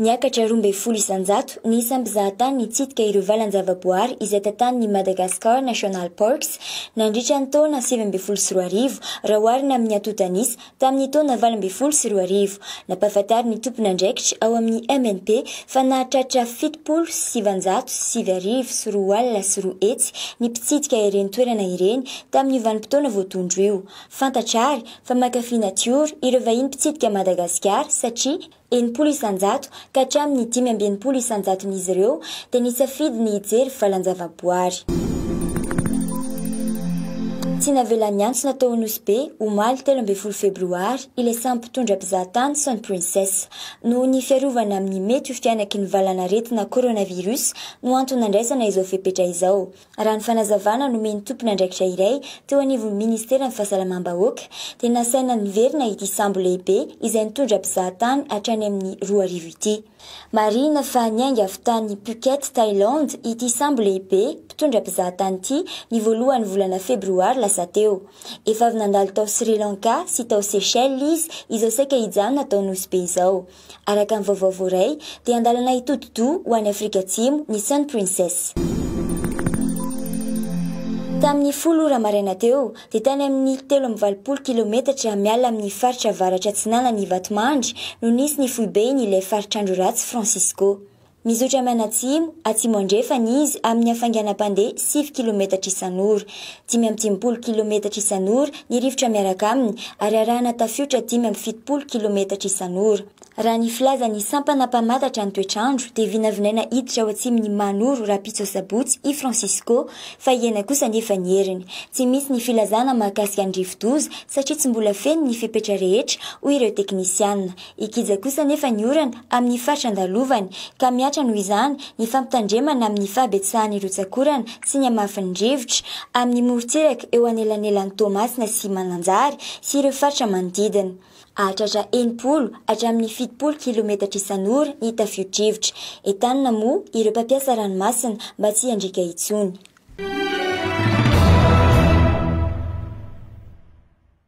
Niakatra roa ambin'ny folo isan-jato ny isan'ny mpizahatany nitsidika ireo valan-javaboahary izay tantanin'ny Madagascar National Parks nandritra ny taona sivy ambin'ny folo sy roa arivo raha oharina amin'ny antontan'isa Tamin'ny taona valo ambin'ny folo sy roa arivo, nampahafantarin'ny tompon'andraikitra ao amin'ny MNP fa nahatratra fitopolo sy sivinjato sy sivy arivo sy roa alina sy roa hetsy ny mpitsidika ireny toerana ireny tamin'io vanim-potoana voatondro io. Fantatra àry fa mankafy natiora ireo vahiny mpitsidika Madagasikara satria Enimpolo isan-jato ka hatramin'ny dimy amby enimpolo isan-jaton'izy ireo dia nisafidy ny hijery valan-javaboary. Tsy navela niantsona tao Nosy Be, omaly telo ambin'ny folo febroary, ilay samy mpitondra mpizaha tany Sun Princess. Noho ny fiarovana amin'ny mety ho fihanaky ny valanaretina coronavirus no antony nandraisana izao fepetra izao. Raha ny fanazavana nomen'ny tompon'andraikitra iray teo anivon'ny minisiteran'ny Fahasalamam-bahoaka dia nasaina niverina ity sambo lehibe izay nitondra mpizahatany hatrany amin'ny roa arivo ity. Marihina fa niainga avy tany Phuket, Thailand ity sambo lehibe mpitondra mpizahatany ity ny voalohan'ny volana febroary lasa teo. Efa avy nandalo tao Sri Lanka sy tao Seychelles izy izao saika hijanona tao Nosy Be izao. Araka ny vaovao voaray, dia an-dalana hitodi-doha ho any Afrika Atsimo ny Sun Princess. Tamin'ny folo ora maraina teo, dia tany amin'ny telo amby valopolo kilometatra miala amin'ny faritra avaratra-atsinanan'i Vatomandry no nisy ny foibe iny ilay faritr'andro ratsy Francisco. Mizotra manatsimo, atsimo-andrefana izy amin'ny hafainganam-pandeha sivy kilometatra isan'ora. Dimy amby dimampolo kilometatra isan'ora ny rivotra miaraka aminy ary arahana tafiotra dimy amby fitopolo kilometatra isan'ora. Raha ny filazan'ny sampana mpamantatra ny toetr'andro dia vinavinaina hiditra ao atsimon'i Manoro rahampitso asabotsy i Francisco fa hihena kosa anefa ny heriny. Tsy misy ny filazana mahakasika ny rivodoza satria tsy mbola feno ny fepetra rehetra hoy ireo teknisiana. Hikija kosa anefa ny orana amin'ny faritra andalovany ka mihatra noho izany ny fampitandremana amin'ny fahabetsahan'ny rotsak'orana sy ny hamafin'ny rivotra amin'ny morontsiraka eo anelanelan'i Toamasina sy Mananjary sy ireo faritra manodidina. Hahatratra enimpolo hatramin'ny fitopolo kilometatra isan'ora ny tafio-drivotra. Entanina moa ireo mpampiasa ranomasina mba tsy hiandriaka intsony.